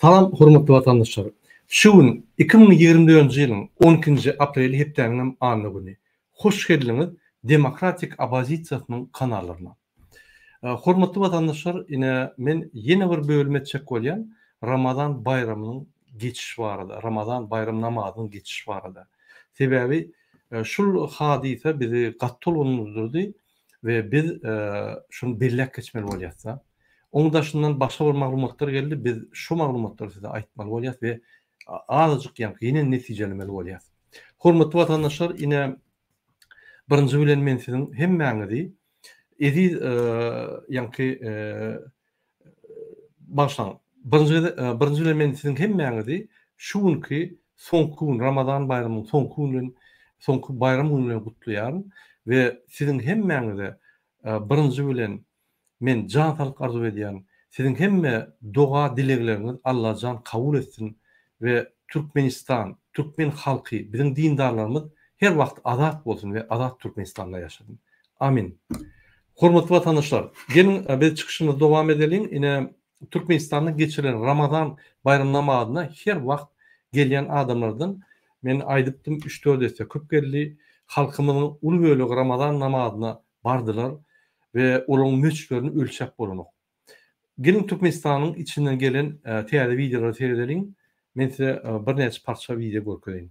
Salam hormatly watandaşlar! Şu gün iki müň ýigrimi dördünji ýylyň on ikinji apreli hepdäniňem anna güni. Hoş geldiňiz demokratik opozisiýasynyň kanallaryna. Hormatly watandaşlar ine men ýene bir bölüm etjek bolýan Ramazan baýramynyň geçişi barada, Ramazan baýram namazynyň geçişi barada. Sebäbi şul hadysa bizi gaty tolgundyrdyrdy. we biz şuny belläp geçmeli bolýas-da. Oň daşyndan başga bir maglumatlar geldi, biz şu maglumatlary size aýtmaly bolýas we azajyk ýaňky ýene netijelemeli bolýas. Hormatly watandaşlar, ine, birinji bilen men siziň hemmäňizi eziz ýaňky Bagyşlaň, birinji gezek, birinji bilen men siziň hemmäňizi şu günki soňky gün, Ramazan baýramynyň soňky güni bilen, soňky baýram güni bilen gutlaýaryn we siziň hemmäňize birinji bilen men jan saglyk arzuw edýän. Siziň hemme doga-dilegleriňiz Allajan kabul etsin we Türkmenistan, türkmen halky, biziň dindarlarymyz her wagt azat bolsun we azat Türkmenistanda ýaşasyn. Amin. Hormatly watandaşlar! Geliň, biz çykyşymyzy dowam edeliň. Ine, Türkmenistanda geçirilen Ramazan baýram namazyna her wagt gelýän adamlardan, men aýdypdym, üç-dört esse köp geldi. Halkymyzyň uly bölegi Ramazan namazyna bardylar we olaryň möçberini ölçäp bolanok. Geliň, Türkmenistanyň içinden gelen täze wideolary seredeliň. Men size birnäçe parça wideo görkezeýin.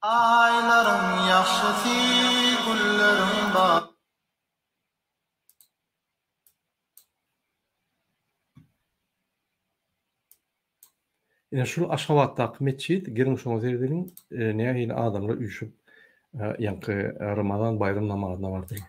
Aýlaryň ýagşysy, gülleriň bary. Ine şul Aşgabatdaky metjit geliň şoňa seredeliň nähili adamlar üýşüp ýaňky Ramazan baýram namazyna bardylar.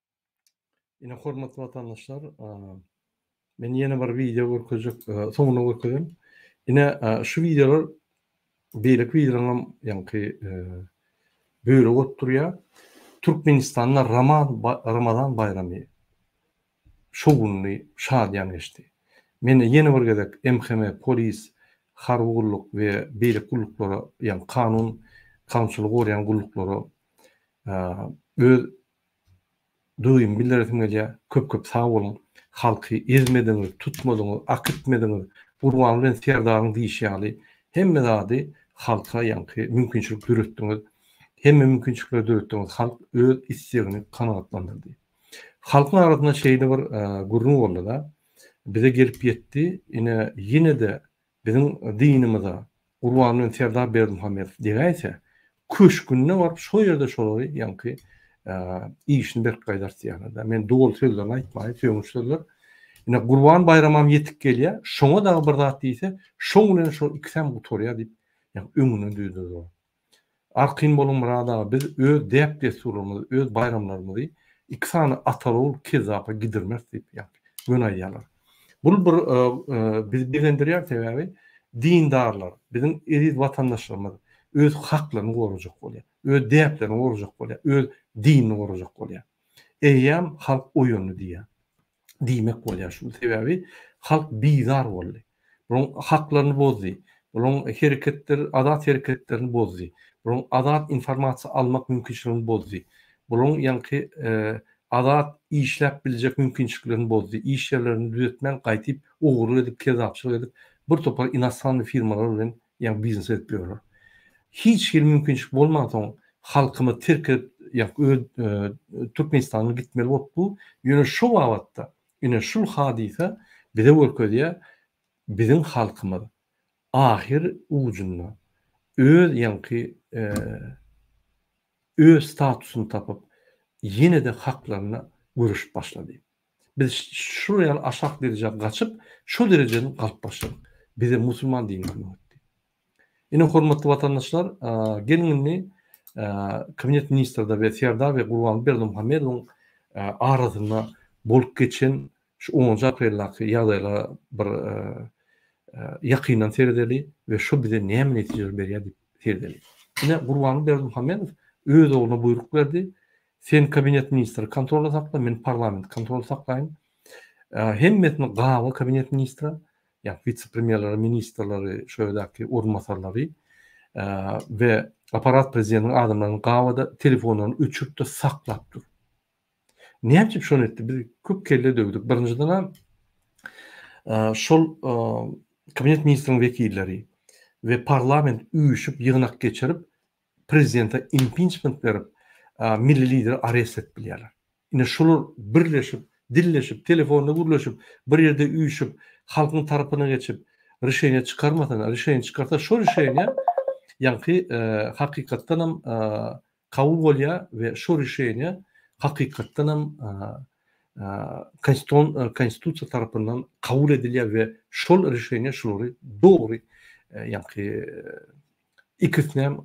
Ine hormatly watandaşlar, men ýene bir wideo görkezjek, soňuna görkezem. Ine şu wideolar beýleki wideolaryň ýaňky bölegi bolup durýar. Türkmenistanda Ramazan baýramy şowhunly, şadyýan geçdi. Men ýene bir gezek MHM, polis, harby gulluk we beýleki gulluklara, ýagny kanun, kanunçylygy goraýan gulluklara öz Dogym bildiresim gelýär köp köp sag boluň halky ezmediňiz tutmadyňyz akitmediňiz Gurban bilen Serdaryň diýşi ýaly hemme zady halka ýaňky mümkinçilik döretdiňiz hemme mümkinçilikleri döretdiňiz halk öz istegini kanagatlandyrdy halkyň arasynda şeýle bir gürrüň boldy-da bize gelip ýetdi ine ýene-de Biziň dynymyza Gurban bilen Serdar Berdimuhamedow degäýse, köşgünde baryp şo ýerde şolary ýaňky işini berk gaýdartýarlar-da. Men doly sözlerini aýtmaýyn, sögünç sözler. Ine Gurban baýramam ýetip gelýär, şoňa dagy bir zat diýse, şoň bilen şol ikisem gutarýar diýip, ýaňy öňünden düzüp durýar. Arkin boluň Myrat aga biz öz däp dessurlarymyzy öz baýramlarymyzy iki sany atalgul kezzapa gidirmeris diýip ýaňky göni aýýarlar. Bul bir bizi begendirýär sebäbi dindarlar biziň eziz watandaşlarymyz öz haklaryny gorajak bolýar. Öz däplerini gorajak bolýar. Öz dinini gorajak bolýar. Eýýäm halk oýandy diýýär. diýmek bolýar şu sebäbi halk bizar boldy. Bularyň haklaryny bozdy. Bularyň hereketleri azat hereketlerini bozdy. Bularyň azat informasiýa almak mümkinçiligini bozdy. Bularyň ýaňky azat işläp biljek mümkinçiliklerini bozdy. Iş ýerlerini düzetmän gaýtyp ogurlyk edip kezzapçylyk edip bir topar inosannyý firmalar bilen Ýa biznes edip ýörler. Hiç hili mümkinçilik bolmansoň halkymyz terk edip ýa öz Türkmenistandan gitmeli bolup bu. Ýöne şu babatda ine şul hadysa bize görkezýär biziň halkymyz ahyr ujunda öz ýaňky öz statusyny tapyp ýene-de haklaryna göreşip başlady. Biz şular ýaly aşak derejä gaçyp, şo derejeden galyp başladyk. Bize musulman dini kömek etdi. Ine, hormatly watandaşlar, geliň indi Kabinet ministrde we Serdar we Gurbanguly Berdimuhamedowyň arasynda bolup geçen şu onunjy apreldaky ýagdaýlara bir ýakyndan seredeli we şo bize näme netijeleri berýär diýip seredeli. Ine, Gurbanguly Berdimuhamedow öz ogluna buýruk berdi, Sen kabinet ministri kontrolda sakla, men parlament kontrolda saklaýyn. Hemmesini gaby kabinet ministra, ýa witse-premýerleri, ministrleri, şo ýerdäki orunbasarlary we aparat prezidentiň adamlaryny gabyda telefonlaryny öçüripdir, saklap dur. Näme üçin şony etdi? Biz köp kelle döwdük. Birinjiden-ä şol kabinet ministriniň wekilleri we parlament üýşüp ýygnak geçirip, prezidente impinçment berip, milli lideri arest edip bilýärler. Ine şular birleşip, dilleşip, telefonda gürleşip, bir ýerde üýşüp, halkyň tarapyna geçip, rişeniýe çykarmasalar, rişeniýe çykarsa şo rişeniýe ýaňky hakykatdan hem kabul bolýar we şo rişeniýe hakykatdan hem konstitusiýa tarapyndan kabul edilýär we şol rişeniýe şulary dogry ýaňky ikisinem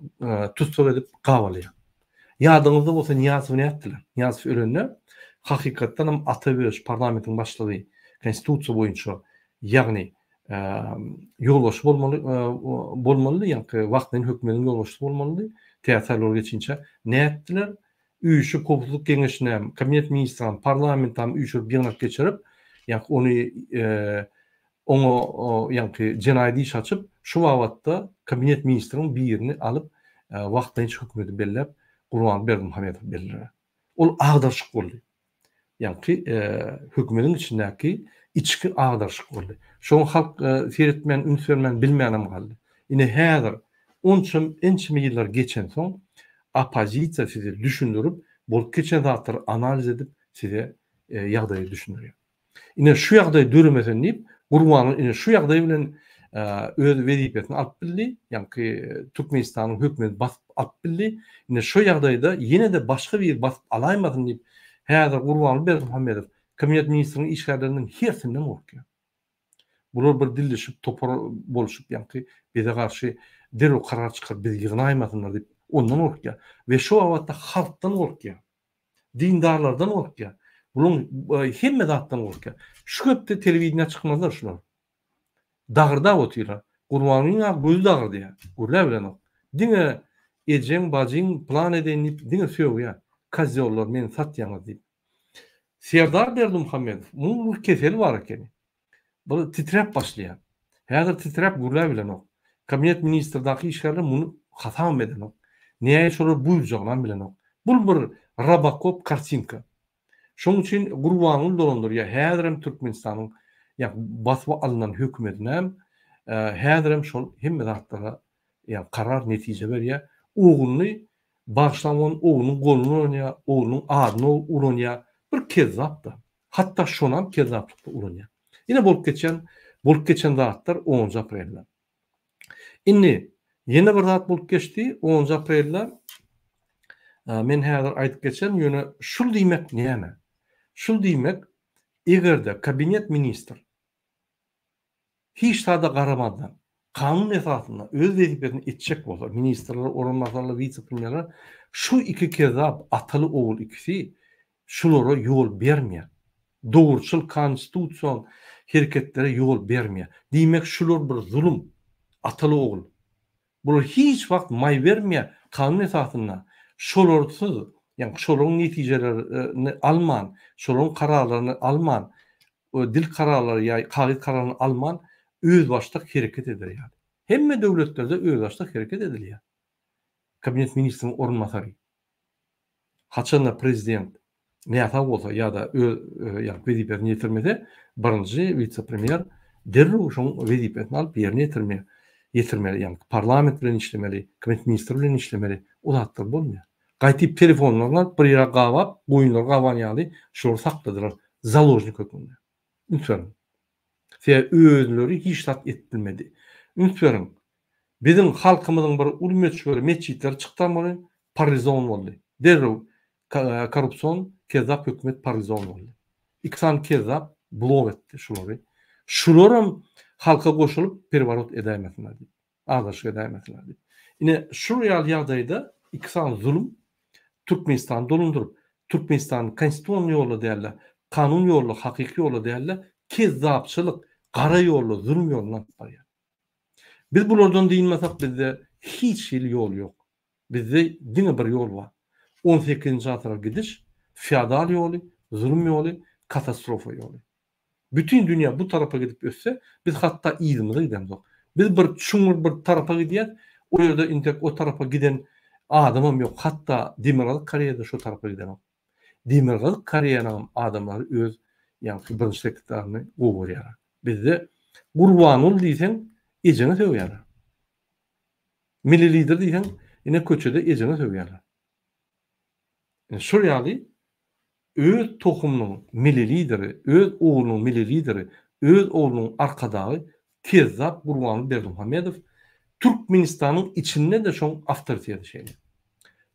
tussag edip gabalýar. Ýadyňyzda bolsa Nyýazowy nätdiler? Nyýazow ölende hakykatdanam Ata Öwezow parlamentiň başlygy konstitusiýa boýunça ýagny ýolbaşçy bolmaly bolmalydy ýaňky wagtlaýyn hökümetiň ýolbaşçysy bolmalydy tä saýlawlar geçinçä nätdiler üýşüp howpsuzlyk geňeşinem kabinet ministram parlamentam üýşürip ýygnak geçirip ýaňky ony Oňa ýaňky jenaýat iş açyp, şu babatda kabinet ministriň birini alyp, wagtlaýynça hökümeti belläp, Gurbanguly Berdimuhamedow belledi. Ol agdarşyk boldy. Ýaňky hökümetiň içindäki içki agdarşyk boldy. Şoňa halk seretmän, üns bermän, bilmänem galdy. Ine häzir, onçam ençeme ýyllar geçensoň, oppozisiýa size düşündirip, bolup geçen zatlary analiz edip, size ýagdaýy düşündirýär. Ine şu ýagdaý döremesin diýip, Gurbanow ine şu ýagdaý bilen öz wezipesini alyp bildi, ýaňky Türkmenistanyň hökümeti basyp alyp bildi. Ine şu ýagdaýda ýene-de başga biri basyp alaýmasyn diýip, häzir Gurbanguly Berdimuhamedow Kabineti ministriniň işgärlerinden hersinden gorkýar. Bular bir dilleşip, topar bolşup, ýaňky bize garşy derrew karar çykaryp, bizi ýygnaýmasynlar diýip, ondan gorkýar we şu babatda halkdan gorkýar. Dindarlardan gorkýar. Bulaň hemme zatdan gorkýar. Şu gepde telewideniýä çykmazlar şular. Dagyrdap otyrlar. Gurbangulynyň-a gözi dagyrdýar. Gürläp bilenok. Diňe ejeň, bajyň plan edeýin diýip diňe sögýär. Kozýollar meni satýaňyz diýip. Serdar Berdimuhamedow, munuň bir keseli bar ekeni. Bir titräp başlaýar. Häzir titräp gürläp bilenok. Kabinet ministrdaky işgärler muny hasabam edenok. Näge şolar buýurjagynam bilenok. Bul bir Robokop kartinka. Şoň üçin Gurbanguly dolandyrýar. Häzirem Türkmenistanyň ýa basyp alnan hökümetinem häzirem şol hemme zatlara ýa karar netije berýär. Ogluny bagyşlap oglunyň goluna uranýar, oglunyň adyna uranýar. Bir kezzap da. Hatda şonam kezzaplykda ulanýar. Ine bolup geçen bolup geçen zatlar onunjy aprelde. Indi ýene bir zat bolup geçdi onunjy aprelde. Men häzir aýdyp geçerin ýöne şul diýmek näme? Şul diýmek egerde kabinet ministr hiç zada garamazdan, kanun esasynda öz wezipesini etjek bolsa, ministrler orunbasarlar, wise-premýerler, şu iki kezzap ataly-ogul ikisi şulara ýol bermeýär. Dogruçyl konstitusion hereketlere ýol bermeýär. Diýmek, şular bir zulum, ataly-ogul. Bular hiç wagt maý bermeýär, kanun esasynda şolarsyz, ýagny şolaryň netijeleri-ni alman, şolaryň kararlaryny alman, we dil kararlary ýa kagyz kararyny alman özbaşdak hereket eder ýaly. Hemme döwletlerde özbaşdak hereket edilýär. Kabinet ministriň orunbasary, haçanda prezident näsag bolsa ýa-da öz ýa-da wezipesini ýetirmese, birinji wise-premýer derrew şoň wezipesini alyp ýerine ýetirmeli, ýa-ni parlament bilen işlemeli, kabinet ministri bilen işlemeli. O zatlar bolmaýar. Gaýtyp telefonlaryny alyp bir ýere gabap, goýunlary gaban ýaly şolary sakladylar založnik hökmünde. Üns beriň. Sebäbi özleri hiç zat edip bilmedi. Üns beriň. Biziň halkymyzyň bir uly möçberi metjitleri çykdamaly parlizon boldy. Derrew korrupsion kezzap hökümet parlizon boldy. Iki sany kezzap blok etdi şulary. Şularam halka goşulyp perworot edäýmesinler diýip. Azaşyk edäý meselä diýip. Ine, şul ýaly ýagdaýda iki sany zulum Türkmenistany dolandyryp, Türkmenistany konstitusion ýolla däl-de, kanun ýolla, hakyky ýolla däl-de, kezzapçylyk, gara ýolla, zulum ýoluna alyp barýar. Biz bulardan dynmasak, bizde hiç hili ýol ýok. Bizde diňe bir ýol bar. On sekizinji asyra gidiş, feodal ýoly, zulum ýoly, katastrofa ýoly. Bütin dünýä bu tarapa gidip össe, biz hatda yzymyza gidemzok. Biz bir çuňňur bir tarapa gidýäs, o ýerde intek o tarapa giden adamam ýok, hatda Demirgazyk Koreýada şo tarapa gidenok. Demirgazyk Koreýanyňam adamlary öz ýaňky birinji sekretaryny gowy görýärler. Bizde Gurbanguly diýseň ejeňi sögýärler. Milli lider diýseň ine köçede ejeňi sögýärler. Şol ýaly öz tohumynyň mili lideri, öz ugrunyň mili lideri, öz oglunyň arkadagy kezzap Gurbanguly Berdimuhamedow Türkmenistanyň içinde-de şoň awtoriteti şeýle.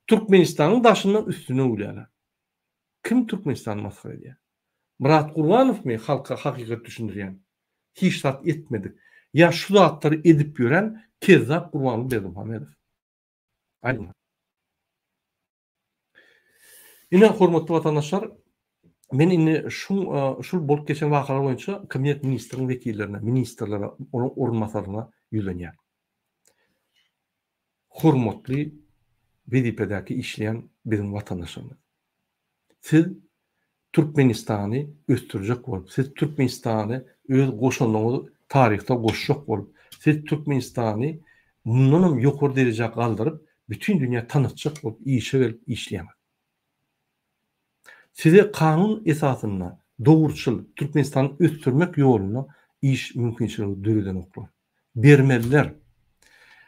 Türkmenistanyň daşyndan üstüne gülýärler. Kim Türkmenistany masgara edýär? Myrat Gurbanowmy halka hakykat düşündirýän? Hiç zat etmedik. Ýa şu zatlary edip ýören kezzap Gurbanguly Berdimuhamedow? Aýdyň. Ine, hormatly watandaşlar, men indi şu şul bolup geçen wakalar boýunça kabinet ministriniň wekillerine, ministrlere, onuň orunbasaryna ýüzlenýän. Hormatly wezipedäki işleýän biziň watandaşlarymyz. Siz Türkmenistany ösdürjek bolup, siz Türkmenistany öz goşandyňyz taryhda goşjak bolup, siz Türkmenistany mundanam ýokary derejä galdyryp, bütin dünýä tanatjak bolup işe gelip işleýäňiz. Size kanun esasynda dogruçyl Türkmenistany ösdürmek ýolunda iş mümkinçiligi döredenoklar. bermeliler.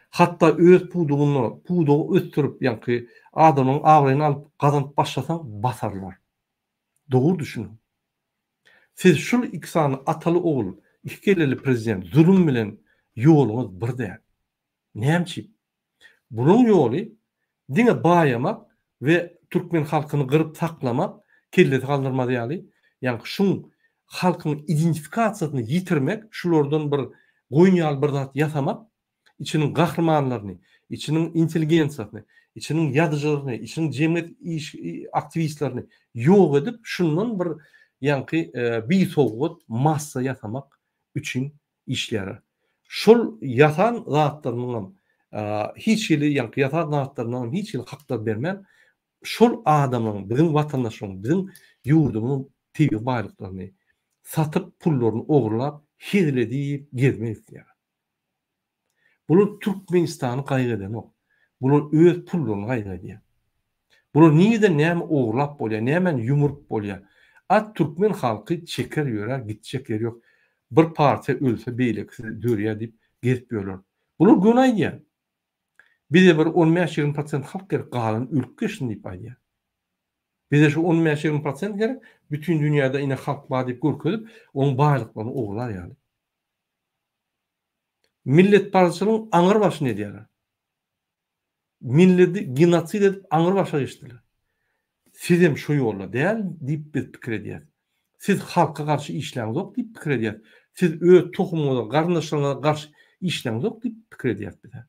Hatda öz pudugyna pudugy ösdürip ýaňky adamyň abraýyny alyp gazanyp başlasaň basarlar. Dogry düşüniň. Siz şul iki sany ataly ogul iki kelleli prezident zulum bilen ýoluňyz bir däl. Näme çip? Bunuň ýoly diňe baýamak we türkmen halkyny gyryp taklamak, kellesi galdyrmaz ýaly, ýaňky şuň halkyň identifikasiýasyny ýitirmek, şulardan bir goýun ýaly bir zat ýasamak, içiniň gahrymanlaryny, içiniň intelligensiýasyny, içiniň ýazyjylaryny, içiniň jemgyýet iş aktiwistlerini ýok edip, şundan bir ýaňky bisowgat massa ýasamak üçin işlere. Şol ýasan zatlarynyňam hiç hili ýaňky ýasan zatlarynyňam hiç hili haklary bermän şol adamlaryň biziň watandaşlaryň biziň ýurdumyzyň tebigy baýlyklaryny satyp pullaryny ogurlap hezil edip gezmek isleýär. Bular Türkmenistany gaýgy edenok. Bular öz pullaryny gaýgy edýär. Bular nireden näme ogurlap bolýar, nämäni ýumuryp bolýar. At türkmen halky çeker ýörär, gitjek ýeri ýok. Bir partiýa ölse beýlekisi dörýär diýip gezip ýörler. Bular göni aýdýar. Bize bir on bäş, ýigrimi prosent halk gerek, galany ölüp geçsin diýip aýdýar. Bize şu on bäş, ýigrimi prosent gerek, bütin dünýäde ine halk bar diýip görkezip, onuň baýlyklaryny ogurlar ýaly. Milletparazçylygyň aňrybaşyny edýärler. milledi genosid edip aňry başa geçdiler. Sizem şo ýolda däl diýip biz pikir edýäs. Siz halka garşy işläňzok diýip pikir edýäs. Siz öz tohumyňyza, garyndaşlaryňyza garşy işläňzok diýip pikir edýäs bizä.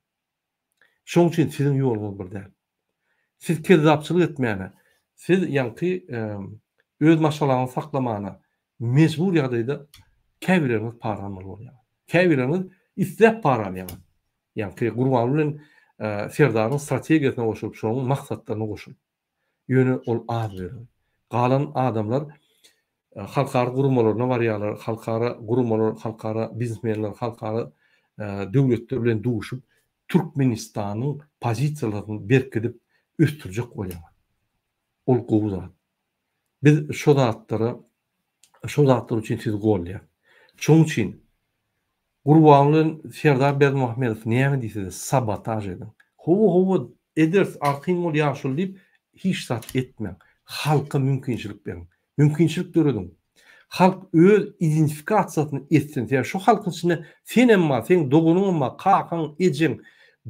Şoň üçin siziň ýoluňyz bir däl. Siz kezzapçylyk etmäne, siz ýaňky öz maşgalaňyzy saklamana, Mejbur ýagdaýda käbirleriňiz para almaly bolýaňyz. Käbirleriňiz isläp para alýaňyz. Ýaňky Gurbanguly bilen Serdaryň strategiýasyna goşulyp, şonuň maksatlaryna goşulyp. Ýöne ol az bölegi. Galan adamlar halkara guramalaryna barýarlar, halkara guramalar, halkara biznesmenler, halkara döwletler bilen duşup, Türkmenistanyň pozisiýalaryny berkidip ösdürjek bolýaňyz. Ol gowy zat. Biz şo zatlara, şo zatlar üçin sizi golýas. Şoň üçin Gurban bilen Serdar Berdimuhamedow näme diýse-de sabotaž ediň. Hawa, hawa, ederis, arkaýyn bol ýaşuly diýip hiç zat etmäň. Halka mümkinçilik beriň. Mümkinçilik dörediň. Halk öz identifikasiýasyny etsin. Sebäbi şo halkyň içinde sen hem bar, seň doganyň hem bar, kakaň, ejeň,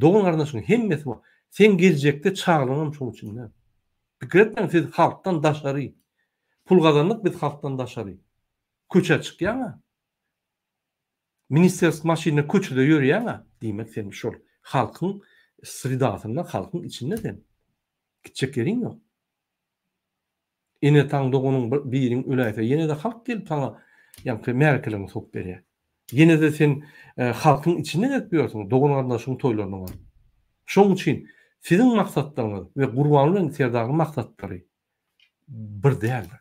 dogan-garyndaşyň hemmesi bar. Seň geljekde çagalaryň hem şoň içinde. Pikir etmeň siz halkdan daşary pul gazandyk biz halkdan daşary köçä çykýaňa ministersk maşynda köçede ýörýäňä diýmek sen şol halkyň sredasynda halkyň içinde sen gitjek ýeriň ýok ene ataň doganyň biriň öläýse ýenede halk gelip saňa ýaňky märekeleriňi sokup berýär. Ýene-de sen halkyň içinde gezip ýörsiň, dogan-garyndaşyň toýlaryna baryp. Şonuň üçin siziň maksatlaryňyz we Gurban bilen Serdaryň maksatlary bir däldir.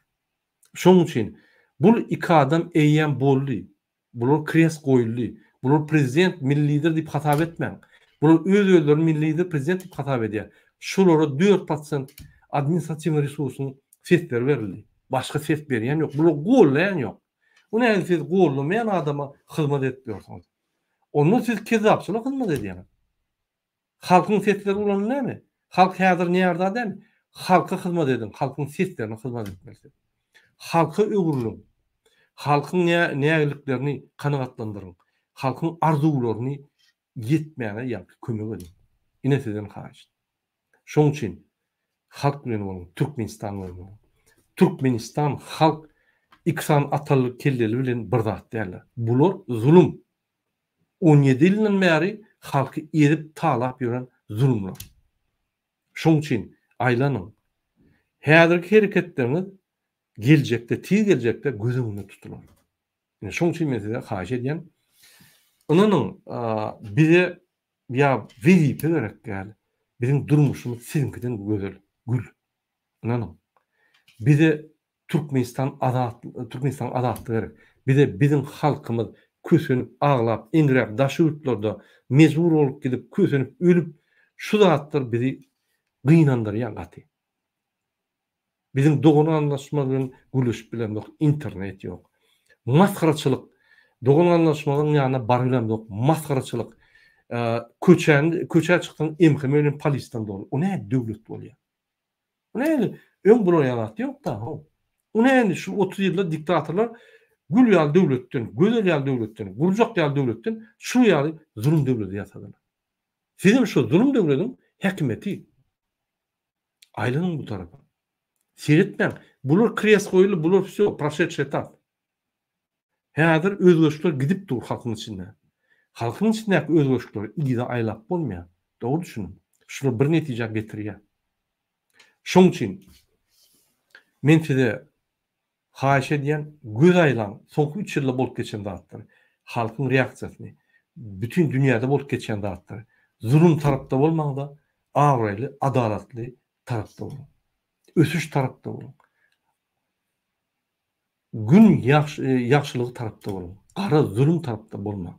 Şonuň üçin bul iki adam eýýäm boldy. Bular krest goýuldy. Bular prezident, milli lider diýip hasap etmäň. Bular öz-özlerini milli lider, prezident diýip hasap edýär. Şulara dört prosent administratiwnyý resursyň sesleri berildi. Başga ses berýän ýok. Bular gollaýan ýok. Bu nädip siz goldamaýan adama hyzmat edip ýörsüňiz? Onda siz kezzapçylyk hyzmat edýäňiz. Halkyň sesleri ulanyp näme? Halk häzir närza däl. Halka hyzmat ediň, halkyň seslerine hyzmat etmeli siz. Halka öwrüliň. Halkyň nägiliklerini kanagatlandyryň. Halkyň arzuwlaryny ýetmäge ýagty kömek ediň. Ine sizden haýyşt. Şoň üçin halk bilen boluň, Türkmenistan bilen boluň. Türkmenistan halk iki sany ataly kelleli bilen bir zat däldir. Bular zulum. On ýedi ýyldan bäri halky ezip talap ýören zulumlar. Şoň üçin aýlanyň. Häzirki hereketleriňiz geljekde, tiz geljekde göz öňünde tutular. Ine şoň üçin men size haýyş edýän. Ynanyň, bize ýa wezipe gerek däl. Biziň durmuşymyz siziňkiden gözel, gül. Ynanyň. Bize Türkmenistan azat, Türkmenistanyň azatlygy gerek. Bize biziň halkymyz kösenip, aglap, eňräp daş ýurtlarda mejbur bolup gidip, kösenip, ölüp, şu zatlar bizi gynandyrýar gaty. Biziň dogan gandaşymyz bilen gürleşip bilemzok internet ýok. Masgaraçylyk dogan gandaşymyzyň ýanyna baryp bilemzok masgaraçylyk köçäň köçä çyksaň emheme bilen polisden doly o näme döwlet bolýa. Bu näme öň bulaýan zat ýok da ho. Bu näme şu otuz ýylda diktatorlar gül ýaly döwletden gözel ýaly döwletden gurjak ýaly döwletden şu ýaly zulum döwledi ýasadylar. Sizem şu zulum döwlediň häkimeti. Aýlanyň bu tarapa. Seretmäň, bular kres goýuldy, bular wsýo, proşetşi etap. Häzir özgerişler gidip dur halkyň içinde. Halkyň içindäki özgerişleri yza aýlap bolmaýar. Dogry düşüniň. Şular bir netijä getirýär. Şoň üçin men size Haýyş edýän göz aýlaň soňky üç ýylda bolup geçen zatlar halkyň reaksiýasyny bütin dünýäde bolup geçýän zatlar zulum tarapda bolmaňda abraýly adalatly tarapda boluň ösüş tarapda boluň gün ýagşylygy tarapda boluň gara zulum tarapda bolmaň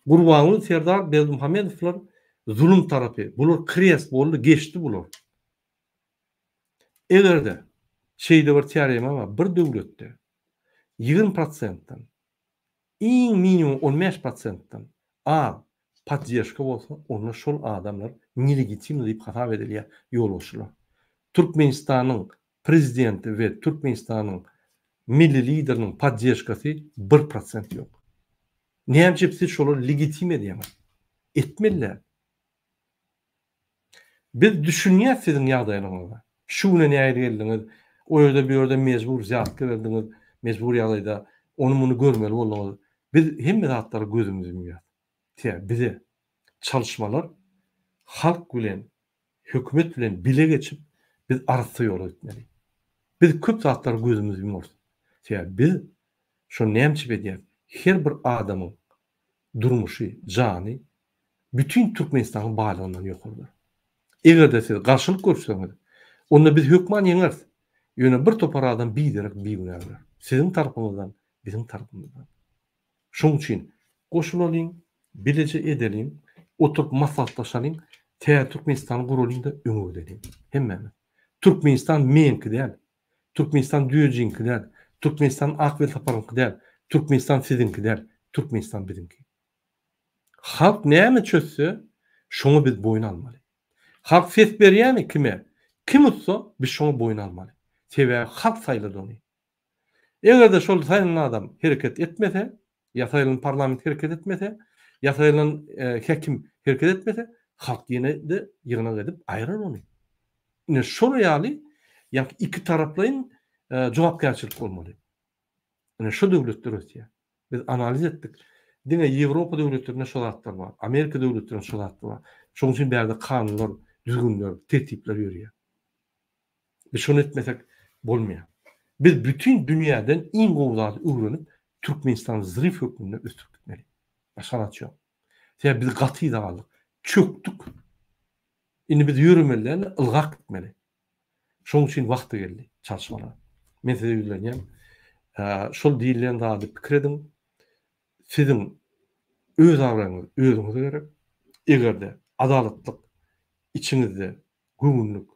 Gurbanguly Serdar Berdimuhamedowlar zulum tarapy bular krest boldy geçdi bular. Eger-de şeýle bir teorema bar, bir döwletde ýigrimi prosentden, iň minimum on bäş prosentden az poddežka bolsa, onda şol adamlar nelegitimny diýip hasap edilýär, ýolbaşçylar. Türkmenistanyň prezidenti we Türkmenistanyň Milli Lideriniň poddežkasy bir prosent ýok. Näme üçin siz şolary legitim edýäňiz? Etmeli däl. Biz düşünýäs siziň ýagdaýlaryňyzy. Şu güne nähili geldiňiz? O ýerde bu ýerde mejbur zýarat geberdiňiz, mejbur ýagdaýda ony muny görmeli bolduňyz. Biz hemme zatlara gözümizi ýumýas. Tä bize çalyşmalar halk bilen hökümet bilen bile geçip biz arassa ýola gitmeli. Biz köp zatlara gözümizi ýumarys. Sebäbi biz şony näme üçin edýäris? Her bir adamyň durmuşy, jany bütin Türkmenistanyň baýlygyndan ýokardyr. Eger-de siz garşylyk görkezseňiz, onda biz hökman ýeňeris, ýöne bir topar adam biderek bigünä öler. Siziň tarapyňyzdan, biziň tarapymyzdan. Şonuň üçin goşulalyň, bileje edeliň, oturyp maslahatlaşalyň, täze Türkmenistany guralyň-da öňe gideliň. Hemmämiz. Türkmenistan meňki däl, Türkmenistan düýejiňki däl, Türkmenistan ak welsaparyňky däl, Türkmenistan siziňki däl, Türkmenistan biziňki. Halk näme çözse, şoňa biz boýun almaly. Halk ses berýämi kime, kim utsa, biz şoňa boýun almaly. Sebäbi halk saýlady ony. Eger-de şol saýlan adam hereket etmese, Ýasaýylan parlament hereket etmese, ýasaýylan häkim hereket etmese, halk ýene-de ýygnak edip aýrar ony. Ine şol ýaly ýa-da iki taraplaýyn jogapkärçilik bolmaly. Ine şu döwletler ösýär. Biz analiz etdik. Diňe Ýewropa döwletlerinde şu zatlar bar. Amerika döwletlerinde şu zatlar bar. Şonuň üçin bärde kanunlar, düzgünler, tertipler ýörýär. Biz şony etmesek bolmaýar. Biz bütin dünýäden iň gowy zady öwrenip, Türkmenistany zryw hökmünde ösdürip gitmeli. Başga zat ýok. Sebäbi biz gaty yza galdyk. Çökdük. Indi biz ýöremeli däl-de, ylgap gitmeli. Şonuň üçin wagty geldi çalyşmalara. Men size ýüzlenýän. Şol diýilýän zady pikir ediň. Siziň öz abraýyňyz özüňize gerek. Eger-de adalatlyk içiňizde göwünlik,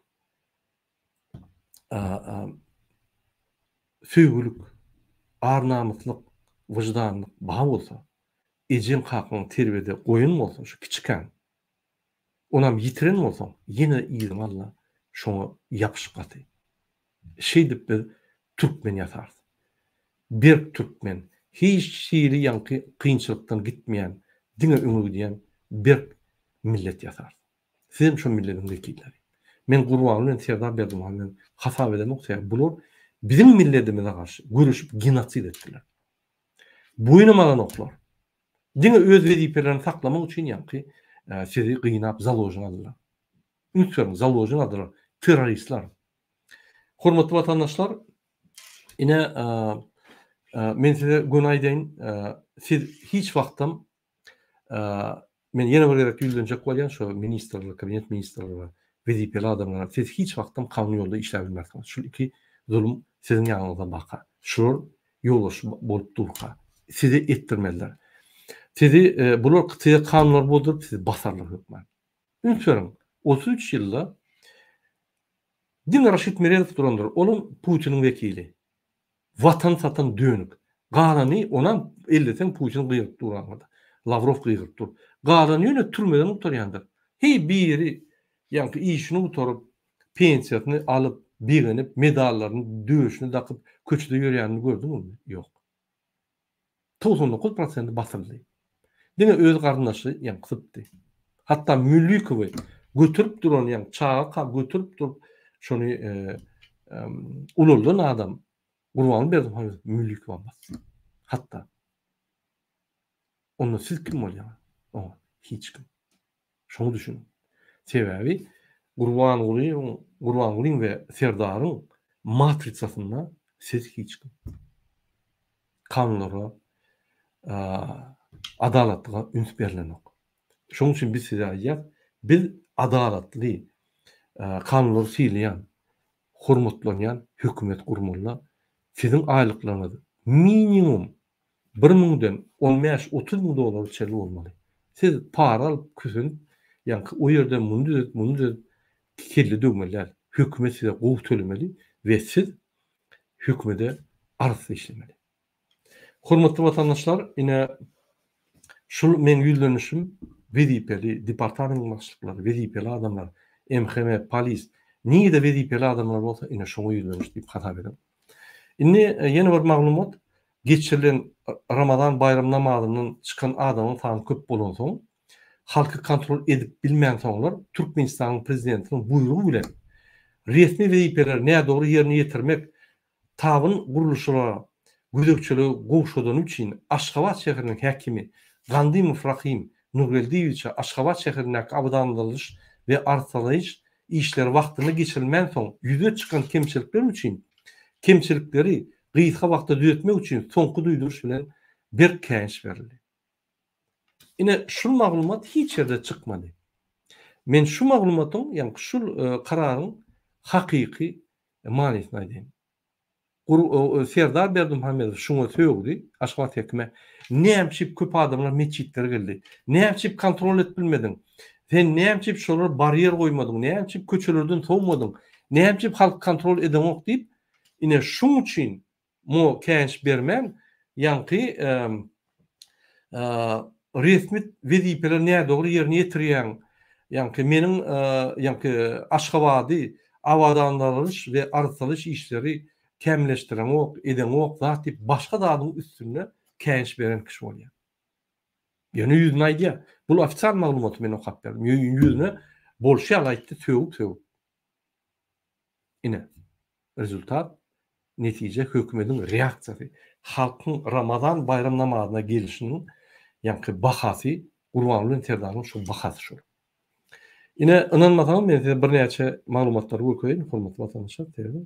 söýgülik, ar-namyslyk, wyždanlyk bar bolsa, ejeň-kakaň terbiýede goýan bolsa şu kiçikäm, onam ýitiren bolsaň, ýene-de yzyňy al-da, şoňa ýapyş gaty. Şeýdip biz türkmen ýasarys. Berk türkmen, hiç hili ýaňky kynçylykdan gitmeýän, diňe öňe gidýän berk millet ýasarys. Sizem şo milletiň wekilleri. Men Gurban bilen Serdar Berdimuhamedow bilen hasap edemok sebäbi bular biziň milletimize garşy göreşip genosid etdiler. Boýunam alanoklar. Diňe öz wezipelerini saklamak üçin ýaňky sizi gynap založni aldylar. Üns beriň založni aldylar terroristler. Hormatly watandaşlar ine men size göni aýdaýyn siz hiç wagtam Men ýene bir gezek ýüzlenjek bolýan şo ministrler, kabinet ministrleri, wezipeli adamlara, siz hiç wagtam kanun ýolda işläp bilmersiňiz. Şul iki zulum siziň ýanyňyzda baka. Şular ýolbaşçy bolup durka, size etdirmezler. Sizi bular size kanunlary bozduryp, sizi basarlar hökman. Üns beriň, otuz üç ýylda diňe Raşid Meredow durandyr, olam Putiniň wekili. Watan satan dönük. Galany onam elleseň Putin gygyryp dur aňyrda. Lawrow gygyryp dur. Galany ýöne türmeden gutarýandyr. Heý biri ýaňky işini gutaryp, pensiýasyny alyp, begenip, medallaryny döşüne dakyp köçede ýörýänini gördüňizmi? Ýok. togsan dokuz prosenti basyldy. Diňe öz garyndaşy ýaňky sypdy. Hatda Müllikowy göterip duran ýaňky çaga göterip durup şony ulaldan adam Gurbanguly Berdimuhamedow Müllikowa basdy. Hatda. Onda siz kim bolýaňyz? Oňa hiç kim. Şoňa düşün. Sebäbi Gurbangulyň Gurbangulyň we Serdaryň matrisasynda siz hiç kim. Kanunlara, adalatlyga üns berilenok. Şoň üçin biz size aýdýas, biz adalatly, kanunlary sylaýan, hormatlanýan hökümet gurmalyda. Siziň aýlyklaryňyz minimum Bir müňden on bäş otuz müň dollara çenli bolmaly. Siz para alyp küsenip ýaňky o ýerden muny düzedip muny düzedip kelle döwmeli däl. Hökümet size gowy tölemeli we siz hökümede arassa işlemeli. Hormatly watandaşlar ine şul meň ýüzlenişim wezipeli departamentin başlyklary wezipeli adamlar MHM polis nirede wezipeli adamlar bolsa ine şoňa ýüzleniş diýip hasap ediň. Indi ýene bir maglumat, geçirilen Ramazan baýram namazyndan çykan adamyň sany köp bolansoň, halky kontrol edip bilmänsoňlar, Türkmenistanyň prezidentiniň buýrugy bilen resmi wezipeleri nädogry ýerine ýetirmek tabyn gurluşylara gözegçiligi gowşadany üçin Aşgabat şäheriniň häkimi Gandymow Rahym Nurgeldiýewiçe Aşgabat şäherindäki abadanladyş we arssalaýyş Işler wagtynda geçirilmänsoň ýüze çykan kemçilikler üçin kemçilikleri gysga wagtda düzetmek üçin soňky duýduryş bilen berk käýinç berildi. Ine, şul maglumat hiç ýerde çykmady. Men şu maglumatyň, ýagny şul kararyň hakyky manysyny aýdaýyn. Serdar Berdimuhamedow şuňa sögdi, Aşgabat häkime, Nämçip köp adamlar metjitlere geldi? Nämçip kontrol edip bilmediň? Sen nämçip şolara barýer goýmadyň? Nämçip köçelerden sowmadyň? Nämçip halk kontrol edeňok diýip, ine şuň üçin muňa käýinç bermän, ýaňky resmi wezipeleri nädogry ýerine ýetirýäň, ýaňky meniň, ýaňky Aşgabady abadanlaralyş we arassalyş işleri kämilleşdireňok, edeňok zat diýip başga zadyň üstünde käýinç beren kişi bolýar. Ýöne ýüzüne aýdýar. Bul ofitsial maglumaty men okap berdim. Ýüzüne bolşy ýaly aýtdy, sögüp-sögüp. Ine. Rezultat, netije hökümetiň reaksiýasy, halkyň Ramazan baýram namazyna gelişiniň ýaňky bahasy, Gurbanguly bilen Serdaryň şu bahasy şol. Ine, ynanmasaňyz men size birnäçe maglumatlary görkezeýin, hormatly watandaşlar, sebäbi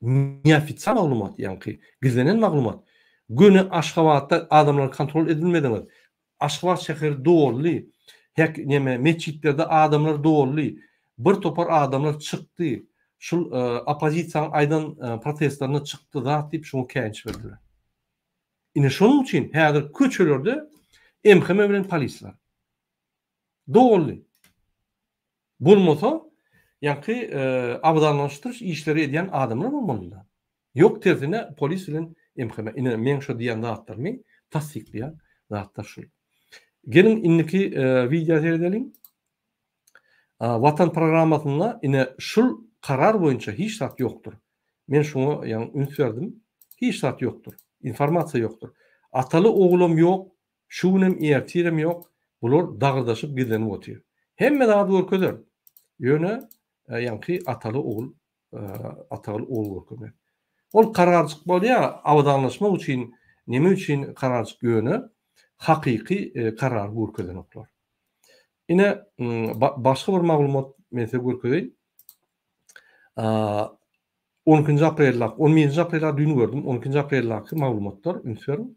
Neofitsial maglumat, ýaňky gizlenen maglumat, göni Aşgabatda adamlar kontrol edilmediňiz, Aşgabat şäheri doldy, häk, neme, metjitlerde adamlar doldy, bir topar adamlar çykdy, şul oppozisiýaň aýdan protestlerinde çykdy zat diýip şuňa käýinç berdiler. Ine şonuň üçin häzir köçelerde MHM bilen polis bar. Doly. Bolmasa, ýaňky abadanlaşdyryş işleri edýän adamlar bolmalydy. Ýok, tersine polis bilen MHM. Ine, meň şo diýen zatlarymy tassyklaýan zatlar şul. Geliň, indiki wideo seredeliň. Watan programmasynda ine şul karar boýunça hiç zat ýokdur. Men şuňa ýaňy üns berdim. Hiç zat ýokdur. Informasiýa ýokdur. Ataly oglam ýok, Şu günem ertirem ýok, bular dagyrdaşyp gizlenip otyr. Hemme zady görkezer. Ýöne ýaňky ataly ogul Atagül ogul görkezmez. Ol kararjyk bolýa abadanlaşmak üçin neme üçin kararjyk ýöne hakyky karary görkezenoklar. Ine başga bir maglumat men size görkezeýin. 12-nji aprelde, 11-nji aprelde düýn gördüm, 12-nji aprelde maglumatlar üns beriň.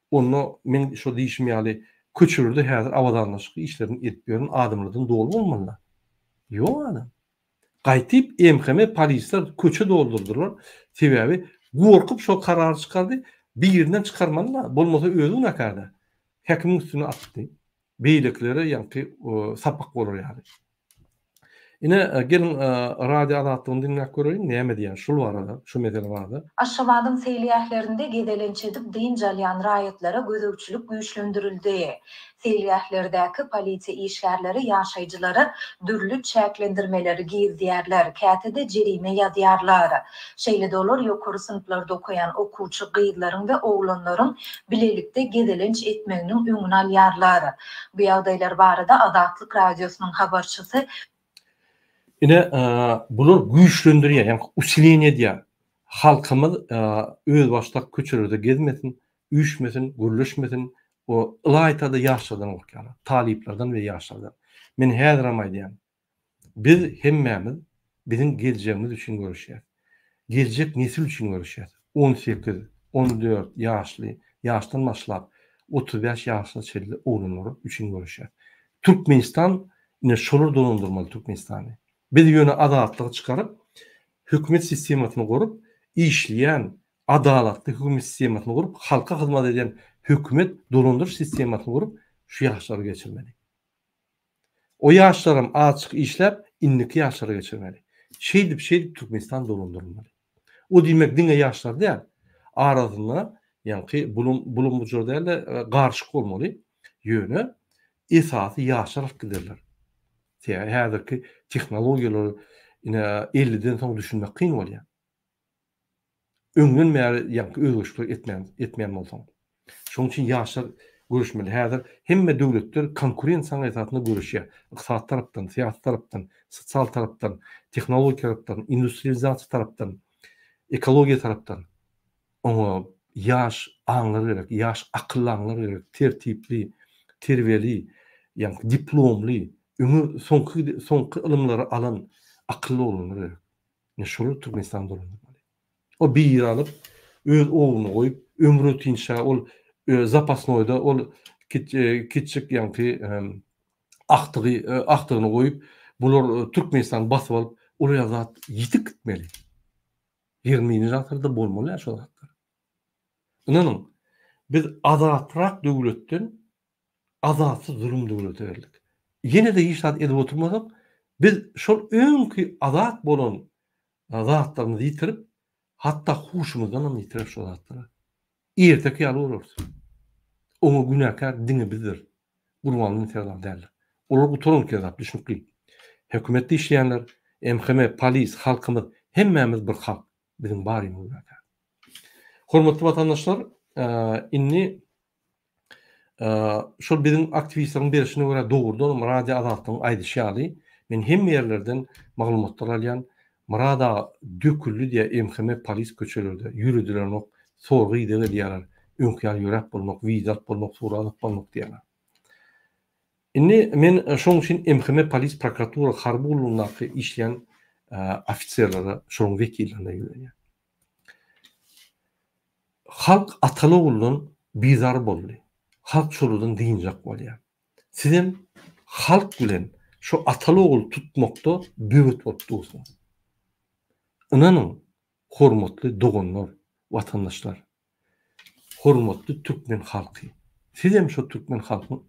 Onda meň şo diýşim ýaly köçelerde häzir abadanlaşyk işlerini edip ýören adamlardan doly bolmaly-da. Ýok a-da. Gaýtyp MHM polisler köçe doldurdylar. Sebäbi gorkup şo karary çykardy. Birinden çykarmaly-da. Bolmasa özi günäkär-dä. Häkimiň üstüne atdy. beýlekilere ýaňky sapak bolar ýaly. Ine, geliň Radio Azatlygyny diňläp göreýin, näme diýýär şul barada, şu mesele barada. Aşgabadyň seýilgählerinde gezelenç edip dynç alýan raýatlara gözegçilik güýçlendirildi. Seýilgählerdäki polisiýa işgärleri ýaşaýjylara dürli çäklendirmeleri girizýärler, käte-de jerime ýazýarlar. Şeýle-de olar ýokary synplarda okaýan okuwçy gyzlaryň we oglanlaryň bilelikde gezelenç etmeginiň öňüni alýarlar. Bu ýagdaýlar barada Azatlyk Radiosynyň habarçysy. Ine, bular güýçlendirýär, ýagny usileniýe edýär. Halkymyz özbaşdak köçelerde gezmesin, üýşmesin, gürleşmesin, ylaýta-da ýaşlardan gorkýarlar, talyplardan we ýaşlardan. Men häzirem aýdýan, Biz hemmämiz biziň geljegimiz üçin göreşýäs. Geljek nesil üçin göreşýäs. On sekiz, on dört ýaşly ýaşdan başlap otuz bäş ýaşa çenli oglanlar üçin göreşýäs. Türkmenistan ine şolar dolandyrmaly Türkmenistany. Biz ýöne azatlygy çykaryp, hökümet sistemasyny gurup, işleýän, adalatly hökümet sistemasyny gurup, halka hyzmat edýän hökümet dolandyryş sistemasyny gurup şu ýaşlary geçirmeli. O ýaşlaram azçyk işläp indiki ýaşlara geçirmeli. Şeýdip şeýdip Türkmenistan dolandyrylmaly. O diýmek diňe ýaşlar däl. Arasynda ýaňky bulum bulum bujur dälde garyşyk bolmaly. Ýöne esasy ýaşlar alyp giderler. Sebäbi häzirki tehnologiýalar ine elliden soň düşünmek kyn bolýar. Öňden bäri ýaňky özgerişleri etmän, etmeýän bolsaň. Şonuň üçin ýaşlar göreşmeli. Häzir hemme döwletler konkurensiýanyň esasynda göreşýär. Ykdysady tarapdan, syýasy tarapdan, sosial tarapdan, tehnologik tarapdan, industrializasiýa tarapdan, ekologiýa tarapdan. Oňa ýaş aňlar gerek, ýaş akylly aňlar gerek, tertipli, terbiýeli, ýaňky diplomly, öňe soňky soňky ylymlary alan akylly oglanlar gerek. Ine şolar Türkmenistany dolandyrmaly. Ol bir ýer alyp, öz ogluna goýup, ömrüne tinçä ol zapasnoýda ol kiçjik ýaňky agtygy, agtygyny goýup, bular Türkmenistany basyp alyp, ol ýaly zat ýitip gitmeli. Ýigrimi birinji asyrda bolmaly-ä şol zatlar. Ynanyň, biz azatrak döwletden Azatsyz zulum döwleti geldik. Ýene-de hiç zat edip oturmasak, biz şol öňki azat bolan zatlarymyzy ýitirip, hatda huşumyzdan hem ýitireris şo zatlara. Erteki ýaly bolarys. Oňa günäkär diňe bizdir. Gurbanguly bilen Serdar däldir. Olar gutaran kezap, düşnükli. Hökümetde işleýänler, MHM, polis, halkymyz, hemmämiz bir halk. Biziň barymyz günäkär. Hormatly watandaşlar, indi Şol biziň aktiwistleriň berşine görä dogrudanam radio Azatlygyň aýdyşy ýaly, men hemme ýerlerden maglumatlar alýan, Myrat aga döküldi diýýä MHM polis köçelerde ýöredilenok, sorag ideg edýäler, öňki ýaly ýöräp bolmak, wiza alyp bolmak, surat alyp bolmak diýýäler. Indi men şoň üçin MHM polis prokuratura harby gullugyndaky işleýän ofiserlere, şonuň wekillerine ýüzlenýän. Halk atan-ogldan bizar boldy. Halk şoladan dynjak bolýar. Sizem halk bilen şu ataly-ogul tutmakda böwet bolup dursuňyz. Ynanyň, hormatly doganlar, watandaşlar, hormatly türkmen halky, sizem şo türkmen halkyň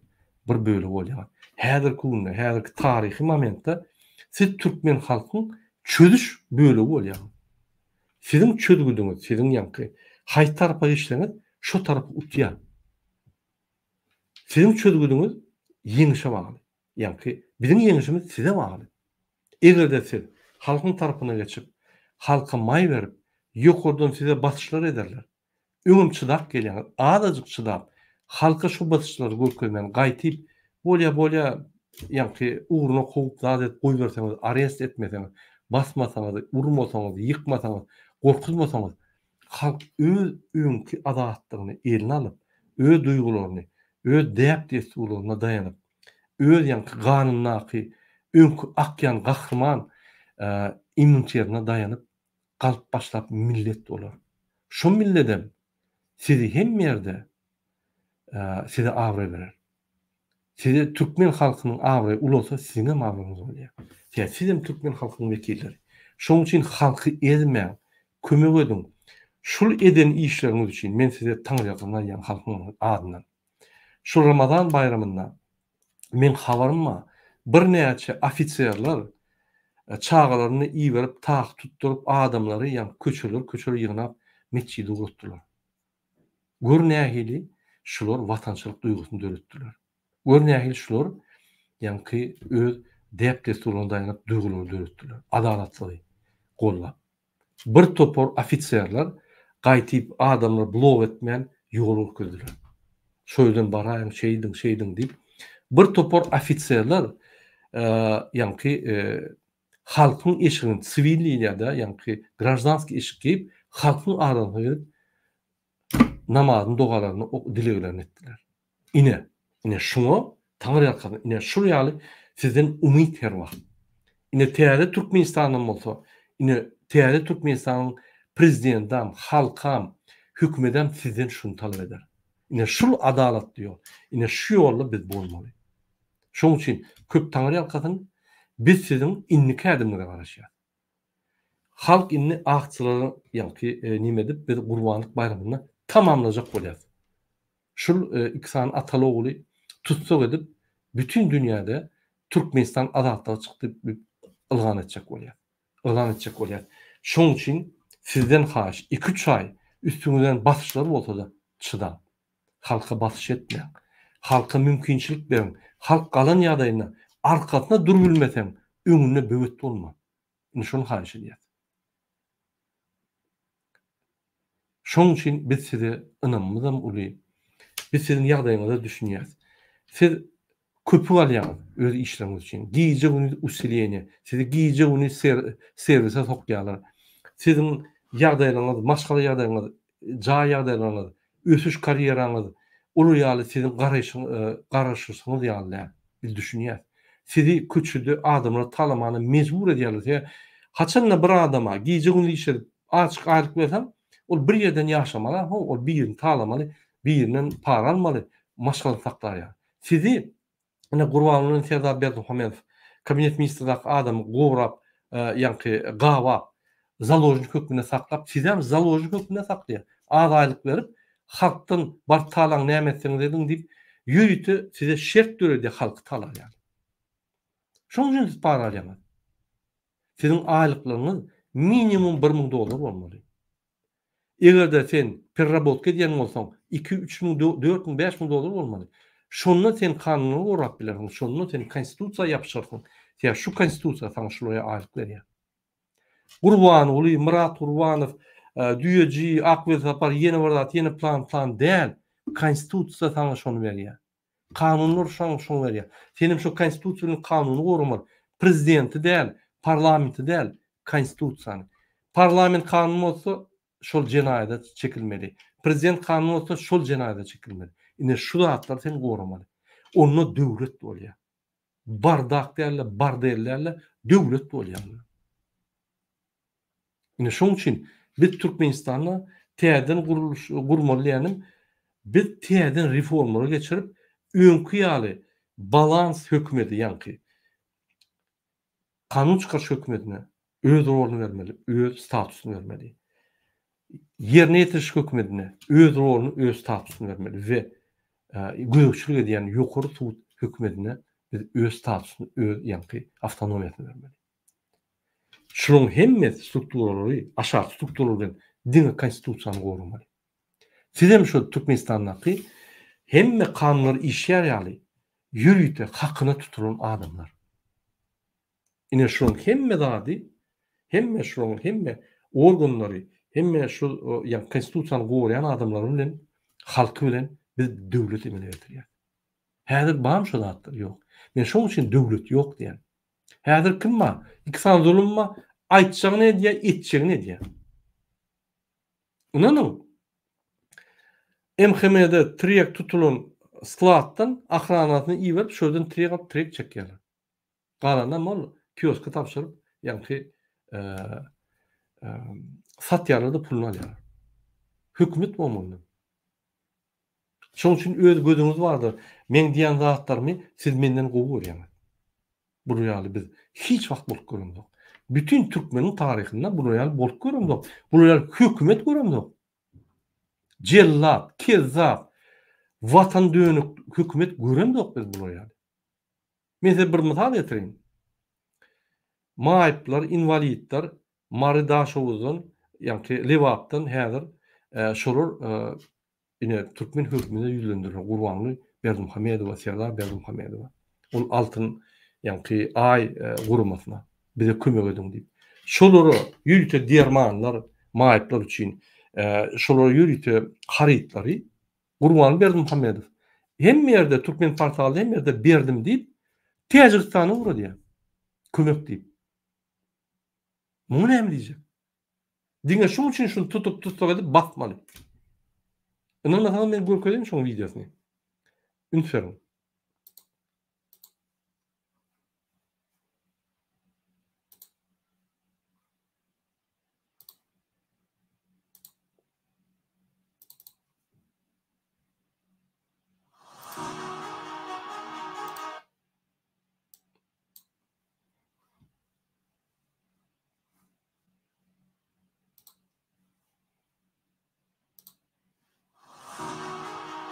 bir bölegi bolýaňyz. Häzirki günde, häzirki taryhy momentde siz türkmen halkyň çözüş bölegi bolýaňyz. Siziň çözgüdiňiz siziň ýaňky haýsy tarapa geçseňiz şo tarapy utýar. Siziň çözgüdiňiz ýeňişe bagly. Ýaňky biziň ýeňişimiz size bagly. Egerde siz halkyň tarapyna geçip, halka maý berip, ýokardan size basyşlar ederler. Öňem çydap gelýäňiz, azajyk çydap, halka şu basyşlary görkezmän, gaýtyp, bolýa, bolýa, ýaňky ugruna kowup zat edip goýberseňiz, arest etmeseňiz, basmasaňyz, urmasaňyz, ýykmasaňyz, gorkuzmasaňyz, halk öz öňki azatlygyny eline alyp, öz duýgularyny, öz däp-dessurlaryna daýanyp, öz ýaňky ganyndaky öňki akýan gahryman immuniterine daýanyp, galyp başlap millet bolar. Şo milledem sizi hemme ýerde size abraý berer. Size türkmen halkynyň abraýy ulalsa siziňem abraýyňyz bolýar. Sebäbi sizem türkmen halkynyň wekilleri. Şonuň üçin halky ezmäň, kömek ediň. Şul eden işleriňiz üçin men size taňyrýalkasyn aýdýan halkyň adyndan. Şu Ramazan baýramynda meň habaryma birnäçe ofiserler çagalaryny iberip tak tutduryp adamlary ýa köçeler köçeler ýygnap metjidi guratdylar. Gör nähili şular watançylyk duýgusyny döretdiler. Gör nähili şular ýaňky öz däp-dessurlaryna daýanyp duýgulary döretdiler. Adalatsyzy gollap. Bir topar ofiserler gaýtyp adamlar blow etmän ýol görkezdiler. Şoýerden baraýyň şeýdiň şeýdiň diýip bir topar ofiserler ýaňky halkyň eşigini siwilniýada ýaňky graždanskiý eşik geýip halkyň arasyna gelip namazyny, dogalaryny, ok, dileglerini etdiler. Ine, ine şuňa Taňry ýalkasyn, ine şul ýaly sizden umyt her wagt. Ine täze Türkmenistanam bolsa, ine täze Türkmenistanyň Prezidendam, halkam, hökümedem sizden şuny talap eder. Ine şul adalatly ýol. Ine şu ýolda biz bolmaly. Şoň üçin köp Taňry ýalkasyn, biz siziň indiki ädimiňize garaşýas. Halk indi akçylara ýaňky nime edip biz gurbanlyk baýramyny tamamlajak bolýas. Şul iki sany ataly ogly tussag edip bütin dünýäde Türkmenistan azatlyga çykdy dip ylgan etjek bolýas. Yglan etjek bolýas. Şoň üçin sizden haýyş iki üç aý üstüňizden basyşlar bolsada çydaň. Halka basyş etmäň. Halka mümkinçilik beriň. Halk galan ýagdaýynda arkasyna dur bilmeseň, öňünde böwet bolma. Indi şony haýyş edýäs. Şonuň üçin biz size ynamymyzam uly. Biz siziň ýagdaýyňyza düşünýäs. Siz Köpük alýaňyz öz işleriňiz üçin. Gije gündiz usileniýe. Sizi gije gündiz servise sokýarlar. Siziň ýagdaýlaryňyz, maşgala ýagdaýyňyz, jaý ýagdaýlaryňyz, ösüş karýeraňyz olar ýaly siziň garaşyşyňyz ýaly däl. Biz düşünýäs. Sizi köçede adamlar talamana mejbur edýärler. Sebäbi haçanda bir adama gije gündiz işledip açyk aýlyk berseň, ol bir ýerden ýaşamaly aho, ol birini talamaly, birinden para almaly, maşgalasyny saklaýar. Sizi ine Gurbangulyny Serdar Berdimuhamedow kabinet ministrdaky adamy gorap ýaňky gabap založnik hökmünde saklap sizem založnik hökmünde saklaýar az aýlyk berip halkdan baryp talaň näme etseňiz ediň diýip ýörite size şert döredýär halky talap ýaly şoň üçin siz para alýaňyz siziň aýlyklaryňyz minimum bir müň dollar bolmaly Eger-de sen perrabotka edýän bolsaň, iki, üç müň, dört müň, bäş müň dollar bolmaly. Şonda sen kanunlary gorap bilersiň, şonda sen konstitusiýa ýapyşarsyň, sebäbi şu konstitusiýa saňa şulaýa aýlyk berýär. Gurbanguly, Myrat Gurbanow, Düýeji, Akwelsapar, ýene bir zat, ýene plan, plan däl, konstitusiýa saňa şony berýär. Kanunlar şaňňy şoňa berýär. Senem şo konstitusiýa bilen kanuny goramaly. Prezidenti däl, parlamenti däl, konstitusiýany. Parlament kanun bozsa, şol jenaýada çekilmeli. Prezident kanun bozsa, şol jenaýada çekilmeli. Ine şu zatlary sen goramaly. Onda döwlet bolýar. bardak däl-de, bordel däl-de, döwlet bolýarlar. Ine şonuň üçin biz Türkmenistanda täzeden gurluş gurmaly diýýänim, biz täzeden reformalary geçirip, öňki ýaly balans hökümeti, ýaňky Kanun çykaryş hökümetine öz roluny bermeli, öz statusyny bermeli. Ýerine ýetiriş hökümetine öz roluny, öz statusyny bermeli we gözegçilik edýän ýokary sud hökümetine biz öz statusyny, öz ýaňky awtonomiýasyny bermeli. Şularyň hemmesi strukturalary aşaky strukturalary bilen diňe konstitusiýany goramaly. Sizem şol Türkmenistandaky hemme kanunlar işýär ýaly ýörite hakyna tutulan adamlar. Ine şulaň hemme zady, hemme şulaň hemme organlary, hemme şu ýa konstitusiýany goraýan adamlary bilen halky bilen biz döwlet emele getirýäs. Häzir barmy şu zatlar? Ýok. Men şoň üçin döwlet ýok diýýän. Häzir kim bar? Iki sany zulum bar. Aýtjagyny edýär, etjegini edýär. Ynanyň, MHM-de tiryek tutulan skladdan ahranasyny iberip, şu ýerden tiryek alyp, tiryek çekýärler. Galanam ol kioska tabşyryp, ýaňky satýarlar-da, puluny alýarlar. Hökümet bolmanda. Şonuň üçin öz gözüňiz bardyr. Meň diýen zatlarymy siz menden gowy görýäňiz. Bular ýaly biz hiç wagt bolup göremzok. Bütin türkmeniň taryhynda bular ýaly bolup göremzok. Bular ýaly hökümet göremzok. Jellat, kezzap, watan dönük hökümet göremzok biz bular ýaly. Men size bir mysal getireýin. Maýyplar, inwalidler Mary Daşoguzdan, ýagty Lebapdan häzir şolar ine türkmen hökümine ýüzlendirilen Gurbanguly Berdimuhamedowa, Serdar Berdimuhamedowa. Ol Altyn, ýagty Aý guramasyna bize kömek ediň diýip. Şolara ýörite dermanlar, maýyplar üçin şolara ýörite harytlary Gurbanguly Berdimuhamedow hemme ýerde türkmen portalda hemme ýerde berdim diýip Täjigistana ugradýar. Kömek diýip. Muňa näme diýjek? Diňe şuň üçin şuny tutup tussag edip basmaly. Ynanmasaňyz men görkezeýin şoň wideosyny. Üns beriň.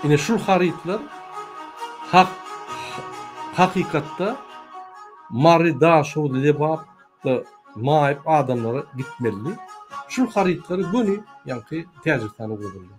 Ine şul harytlar hakykatda Mary Daşoguz Lebap da maýyp adamlara gitmelidi. Şul harytlary göni ýaňky Täjigistana ugradylar.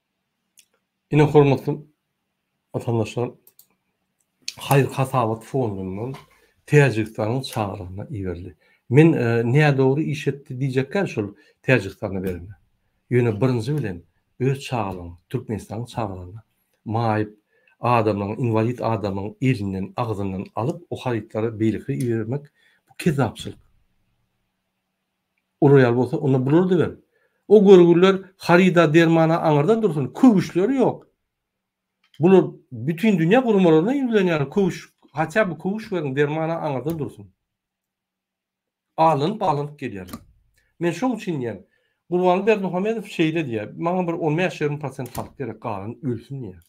Ine, hormatly watandaşlar, haýyr-hasabat fondundan Täjigistanyň çagyrygyna iberildi. Men nädogry iş etdi diýjekkäm şol Täjigistana berende. Ýöne birinji bilen öz çagalygyň, Türkmenistanyň çagalygyna maýyp adamlaryň, inwalid adamlaryň elinden, agzyndan alyp, o harytlary beýlekire ibermek, bu kezzapçylyk. Uraýaly bolsa, onda bular dibem. O görgüliler haryda, dermana aňyrdan dursun, köwüşleri ýok. Bular bütin dünýä gurmalaryna ýüzlenýärler, köwüş, hatýa bir köwüş beriň, dermana aňyrdan dursun. Alanyp-alanyp gelýärler. Men şoň üçin diýýän, Gurbanguly Berdimuhamedow şeýle diýýär, maňa bir on bäş ýigrimi prosent halk gerek, galan ölsün diýýär.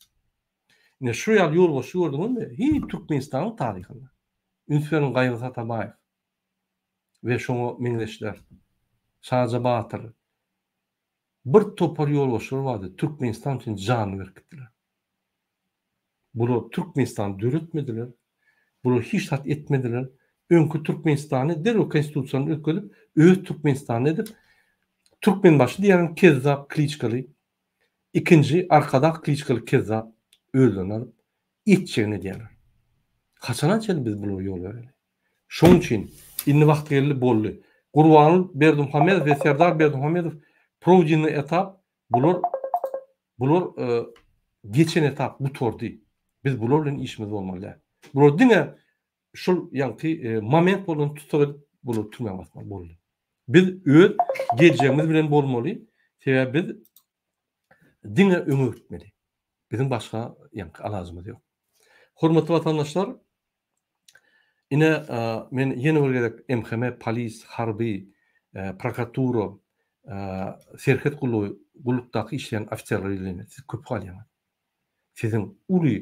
Ine, şu ýaly ýolbaşçy gördüňizmi? Hiý, Türkmenistanyň taryhynda. Üns beriň Gaýgy Satabaýew. we şoňa meňzeşler. Şaja batyr, bir topar ýolbaşçylar bardy, Türkmenistan üçin janyny berip gitdiler. Bular Türkmenistany döretmediler, bular hiç zat etmediler, öňki Türkmenistany derrew konstitusiýany üýtgedip, öz Türkmenistanyny edip, Türkmenbaşy diýýän kezzap kliçkaly, ikinji arkadag kliçkaly kezzap özlerini alyp, etjegini edýärler. Haçana çenli biz bulara ýol bereli? Şonuň üçin, indi wagty geldi, boldy. Gurbanguly Berdimuhamedow we Serdar Berdimuhamedow prowdinny etap, bular, bular geçen etap, gutardy. Biz bular bilen işimiz bolmaly däl. Bular diňe şul ýaňky moment bolan tussag edip, bular türmä basmaly, boldy. Biz öz geljegimiz bilen bolmaly, sebäbi biz diňe öňe gitmeli. Biziň başga ýaňky alajymyz ýok. Hormatly watandaşlar, Ine, men ýene bir gezek MHM, polis, harby, prokuratura, serhet gullugy, gullukdaky işleýän ofiserlere ýüzlenýän, siz köp galýaňyz. Siziň uly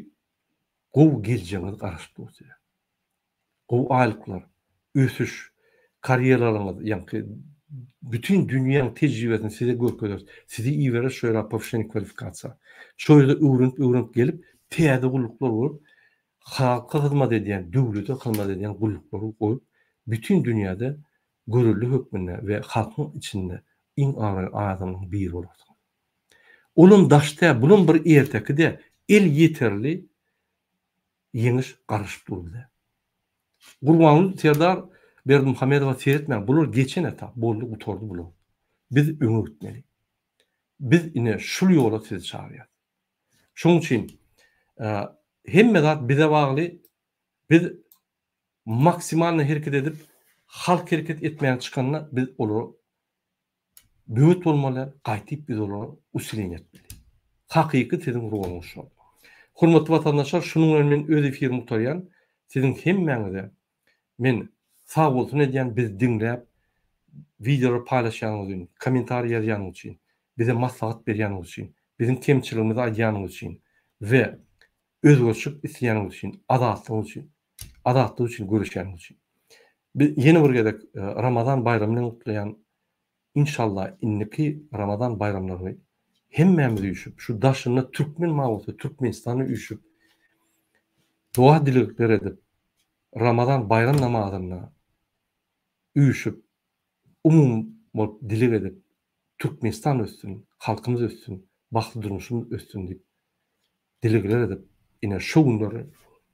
gowy geljegiňiz garaşyp dur size. Gowy aýlyklar, ösüş, karýeralaryňyz, ýaňky bütin dünýäň tejribesini size görkezeris. Sizi ibereris şo ýere powşeni kwalifikasiýa. Şo ýerde öwrenip-öwrenip gelip, täze gulluklar bolup, halka hyzmat edýän, döwlete hyzmat edýän gulluklary goýup, bütin dünýäde görelde hökmünde we halkyň içinde iň abraýly adamlaryň biri bolarsyňyz. Olam daş tä, bulam bir erteki-dä, el ýeterli ýeňiş garaşyp dur bize. Gurbanguly Serdar Berdimuhamedowa seretmäň, bular geçen etap, boldy, gutardy bular. Biz öňe gitmeli. Biz ine şul ýola sizi çagyrýarys. Şonuň üçin hemme zat bize bagly. Biz maksimalnyý hereket edip, halk hereket etmän çykanda biz olara böwet bolmaly, gaýtyp biz olara usilin etmeli. Hakyky siziň roluňyz şol. Hormatly watandaşlar, şunuň bilen men öz efirimi gutarýan. Siziň hemmäňize Men sagbolsun edýän bizi diňläp wideolar paýlaşýanyňyz ün kommentariý ýazýanyňyz üçin bize maslahat berýäniňiz üçin biziň kemçiligimizi aýdýanyňyz üçin we özgerşik isleýäniňiz üçin azatlygyň üçin azatlyk üçin göreşýäniňiz üçin bi ýene bir gezek ramazan baýramy bilen gutlaýan Inşallah indiki Ramazan baýramlaryny hemmämiz üýşüp şu daşynda Türkmen mabusy Türkmenistana üýşüp doga dilegler edip Ramazan baýram namazynda üýşüp umum bolup dileg edip Türkmenistan össün halkymyz össün bagtly durmuşymyz össün diýip Dilegler edip ine şu günleri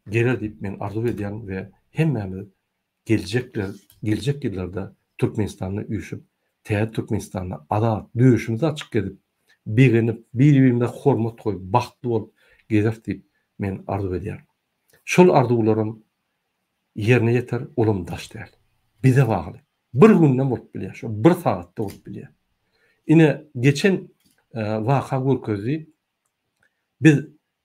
geler diýip men arzuw edýän we hemmämiz geljekler geljek ýyllarda Türkmenistanda üýşüp täze Türkmenistanda azat döşümizi açyk gezip begenip bir-birimize hormat goýup bagtly bolup gezeris diýip men arzuw edýän. Şol arzuwlarym ýerine ýeter olam daş däl. Bize bagly. Bir gündem bolup bilýär şo bir sagatda bolup bilýär. Ine geçen waka görkezdi Biz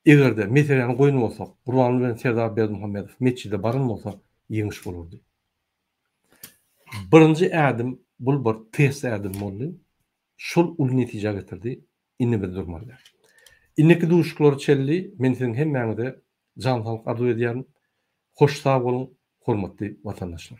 eger-de meseläni goýan bolsak, Gurbanguly bilen Serdar Berdimuhamedow metjide baran bolsa, ýeňiş bolardy. Birinji ädim, bul bir test ädim boldy. Şol uly netijä getirdi. Indi biz durmalydys. Indiki duşuşyklara çenli men siziň hemmäňize jan saglyk arzuw edýärin. Hoş sag boluň, hormatly watandaşlar!